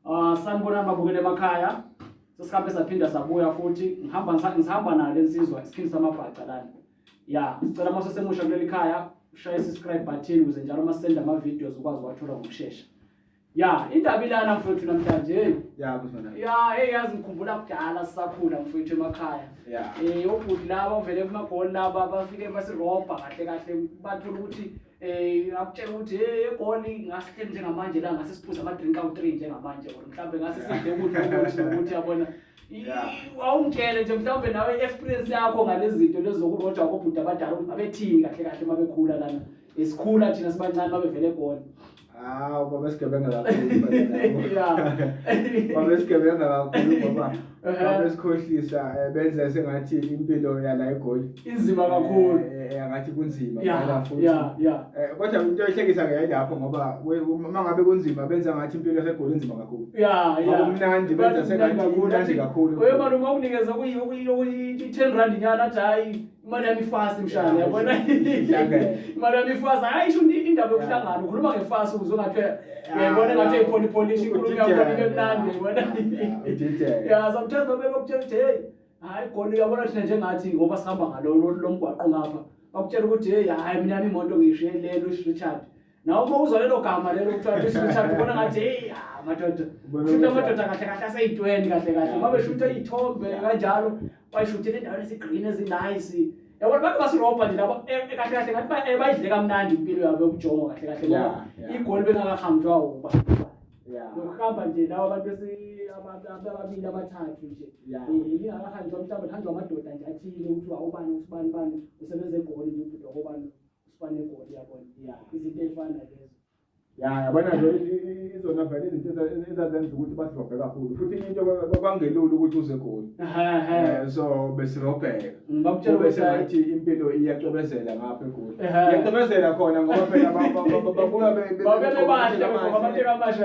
Ah, sanibonani babukele emakhaya. Sesikhambe saphinda sabuya futhi ngihamba ngisahamba nayo lensizwa isiphini samabhaca lana. Ya, sicela uma sesemusha kuleli khaya ushaye subscribe button ukuze njalo uma sisenda ama videos ukwazi ukwathola ngokusheshsha. Ya, indaba ilana mfowethu namhlanje. Hey. Ya, kusona. Ya, hey yazi ngikhumbula kudala sisakhula mfowethu emakhaya. Ya. Eh, obhuti laba ovele kumagoli laba bafike basirobha kahle kahle bathola ukuthi eh ngakutshela ukuthi hey egoli ngasihle njengamanje la ngase siphuza ama drink out 3 njengamanje or mhlawumbe ngase sidle ukuthi ukuthi ukuthi yabona awungitshele nje mhlawumbe nawe experience yakho ngalezi zinto lezokurojwa kobhuti abadala ukuthi babethini kahle kahle mabekhula lana esikhula thina sibancane babevele egoli Hawu baba sigebenga kakhulu baba sigebenga kakhulu ngoba baba sikhohlisa eh, benze sengathi impilo yala egoli inzima eh, kakhulu eh, angathi kunzima phela futhi kodwa into ehlekisa ke yilapho ngoba uma ngabe kunzima benza ngathi impilo yasegoli inzima kakhulu ya ya umnandi benza sengathi kunandi kakhulu wena uma unikeza kuyi 10 rand nyana hayi imali yami ifasi mshana yabona imali yami ifasi hayi isho indaba yokuhlangana ukhuluma ngefasi ukuze ungathi yabona ngathi eyipholi polish inkulumo yakho ibe mnandi yabona ya sometimes babe bakutshela ukuthi hey hayi goli uyabona thina njengathi ngoba sihamba ngalo lomgwaqo ngapha bakutshela ukuthi hey hayi mina imoto ngiyishiye lelo Richard nawe uma uzwa lelo gama lelo kuthiwa cishe umshado ubona ngathi heyi ah, madoda shutha amadoda kahle kahle aseyintweni kahle kahle uma beshutha iy'thombe kanjalo bayishuthela endaweni ezigreen ezinice yabona bantu basirobha nje labo eh, eh, kahle kahle ngathi eh, bayidle kamnandi impilo yabo yokujongo kahle kahle ngoba igoli bengakahamjwa uba nokuhamba nje lawo abantu ababili abathathu nje lingakahanjwa mhlawumbe lihanjwa amadoda nje athile ukuthi awubani ukuthi ubani bani usebenza egoli nje ubhuti wakobani usibane egoli yabona izinto ey'fana lezo ya yabona nje izona vele izinto ezazenza ukuthi basirobhe kakhulu futhi into kwangelula ukuthi uze egoli eh, so besirobheka besengathi impilo iyacobezela ngapha egoli iyacobezela khona ngoba phela babuya bebahle abantu abasha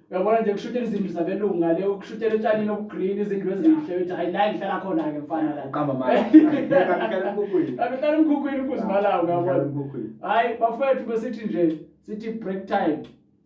uyabona nje kushutela izindlu zabelungu ngale ukushutela etshanini obugreen izindlu ezinhle uthi hayi la ngihlala khona-ke mfana la qamba malihlala emkhukhwini abehlala emkhukhwini ukuzimalawo ngabona hhayi bafowethu besithi nje sithi break time